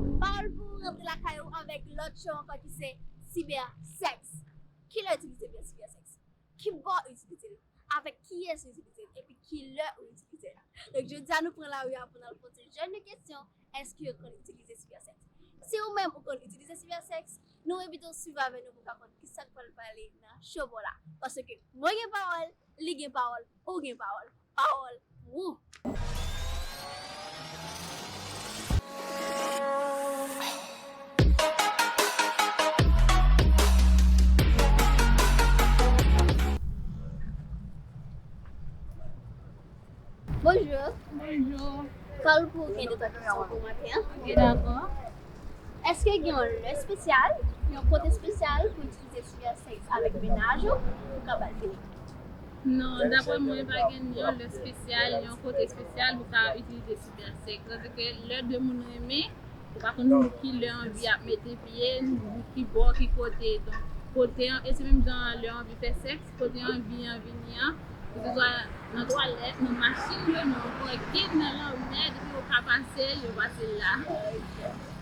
Pawòl pou ou rantre lakay ou avèk lòt cho ankò ki se Cyber Sex. Kilè itilize byen Cyber Sex? Kibò ou itilize l? Avèk kiyès ou itilize l? Epi kilè ou itilize l? Donk jodi a nou pran lari a pou n al poze jèn yo kesyon, èske yo konn itilize Cyber Sex? Si ou menm ou konn itilize Cyber Sex, nou envite w swiv avè nou pou w ka konn kisa k pral pale nan Show Paw la. Paske mwen gen pawòl, li gen pawòl, ou gen pawòl. Pawòl wou! Bonjour. Bonjour. Kòl pou gen de taksyon pou maten an. Ok, dakò. Eske gen yon lè spesyal, yon kote spesyal pou itilize siyasèk avèk menaj ou pou ka bal fini? Non, dapre mwen pa gen yon lè spesyal, yon kote espesyal pou ta itilize Cybersec. Kote ke lè 2 moun renmen, ou pa konn pou ki lè anvi ap mete pye, pou ki bò, ki kote. Donk, kote an, e se menm jan an lè anvi fè sèks, kote anvi an vini an, ke se swa nan twalèt, nan machin yo, nan pakin, nan lanmè, depi yo ka pase, yo pase la.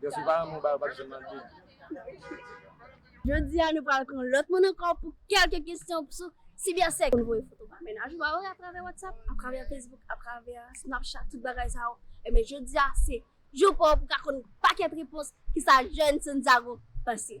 Deske ou pa renmen yon bagay ou pa janm mande li. Jodi a nou pral pran lòt moun ankò pou kèlke kesyon sou sibersèks. Ou konn voye foto pa mennaj ou a wi atravè whatsapp, atravè facebook, atravè snapchat tout bagay sa yo. Ebyen jodi a se jou pa w pou ka konn pakèt repons kisa jèn Santiago panse.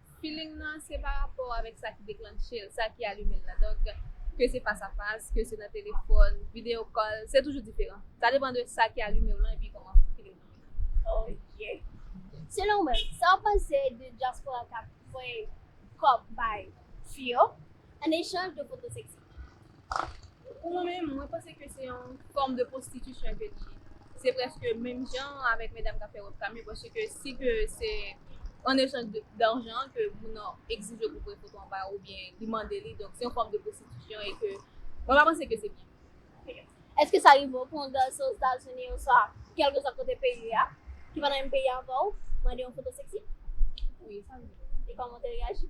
Feeling nan se pa rapò avèk sa ki deklanche l, sa ki alime l la. Donk, ke se fas a fas, ke se nan telefòn, videyo kòl, se toujou diferan. Sa depan de sa ki alime w lan epi kòman feeling nan ye. Ok. Selon ou menm, sa w panse de dyaspora k ap voye kòb bay fi yo an echanj de foto seksi? Pou mwen menm, mwen panse ke se yon fòm de pwostitisyon ke li ye. Se prèske menm jan avèk medam k ap fè webcam yo paske si ke se an echanj darjan ke moun nan egzije pou voye foto anba yo oubyen li mande li, donk se yon fòm de pwostitisyon e ke mwen pa panse ke se byen. Èske sa rive pou yon gason Ozetazini oswa kèlkesòt kote peyi li a, ki pa nan menm peyi avè w, mande yon foto seksi? Wi, sa rive. E kòman w te reyaji?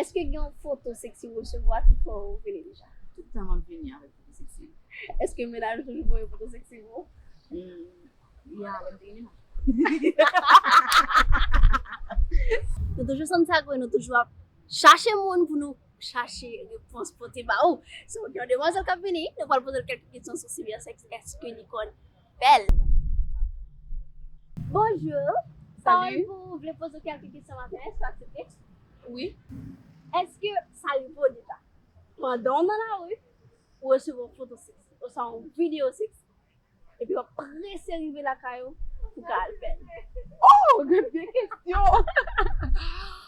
Eske gen yon foto seksi ou resevwa ki fè ou rele deja? Tout tan map vini avèk foto seksi. Eske mennaj ou toujou voye foto seksi pou ou? Ya, lèm te gen mennaj. Nou toujou santi sa kwe nou toujou ap chache moun pou nou chache repons pote ba ou. So gen yon demwazèl kap vini, nou pral poze l kèlke kesyon sou sibersèks eske li konn. bèl. Bonjour Salut Pawol pou ou vle poze kelke kesyon maten an eske w aksepte? Wi Eske sa rivo deja pandan w nan lari ou resevwa yon foto seksi oswa yon video seksi epi wap prese rive lakay ou pou ka al fèl? Ohh gen de kesyon!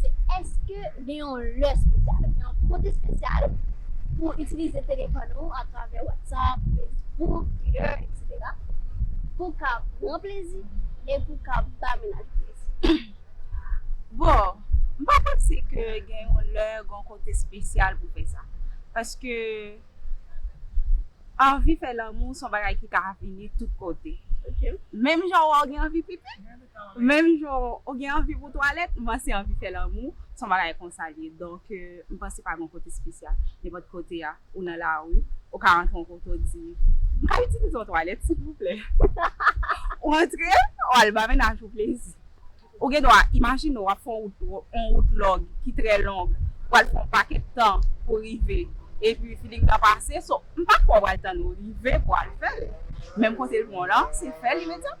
se èske gen yon lè spesyal, gen yon kote spesyal pou itilize telefòn ou atravè WhatsApp, Facebook, Twitter, etc. Pou w ka pran plezi e pou w ka ba mennaj ou plezi. Bon, m pa panse ke gen yon lè, gen yon kote spesyal pou fè sa. Paske anvi fè lanmou se yon bagay ki ka vini tout kote. Menm jan wè w gen anvi pipi. Menm jan ou gen anvi pou twalèt, mwen se anvi fè lanmou, se yon bagay konsa li ye. Donk, m panse pa gen yon kote espesyal. Nenpòt kote a, ou nan lari, ou ka rantre yon kote ou di, M ka itilize yon twalèt, silvouplè? Ou rantre, ou al ba mennaj ou plezi. Ou gen dwa imajine w ap fè yon wout long ki trè long, ou pral fè yon pakèt tan pou w rive, epi filing nan pase. So, m pa kwè ou pral tann ou rive pou w al fè l. Menm kote l bon lan, se fè l imedyatman.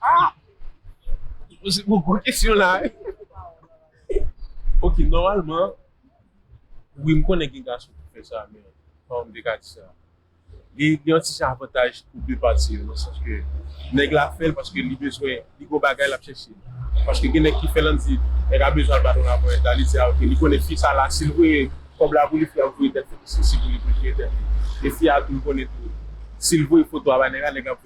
Ah! Ou poze mwen gwo kesyon la e. Ok, nòmalman, wi m konnen gen gason ki fè sa men, kòman m te ka di sa? Li gen yon ti jan avantaj pou de pati yo nan sans ke nèg la fè l paske li bezwen, li gen yon bagay l ap chèche. Paske gen nèg ki fè l an di, nèg la bezwen al bat yon laponyèt la, li di a ok, li konnen fi sa la si l voye kòb la pou li fi a ap voye tèt li pou sesi pou li pou l jere tèt li. E fi a tou l konnen tou si l voye foto a bay nèg la, nèg la ap.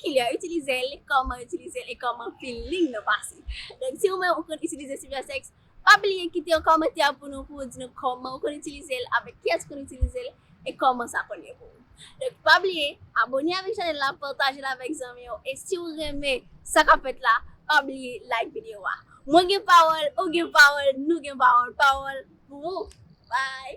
Ki lè itilize l, kòman itilize l e kòman pil liy nan pase. Donk si ou menm ou konn itilize Supersex, pa bliye kite yon kòmantè pou nou pou ou di nou kòman ou konn itilize l, avèk kiyès ou konn itilize l e kòman sa konn ye pou ou. Donk pa bliye abone avèk chanèl la, pataje l avèk zanmi yo e si ou renmen sa k ap fèt la, pa bliye like videyo a. Mwen gen pawòl, ou gen pawòl, nou gen pawòl, pawòl pou ou! Bye!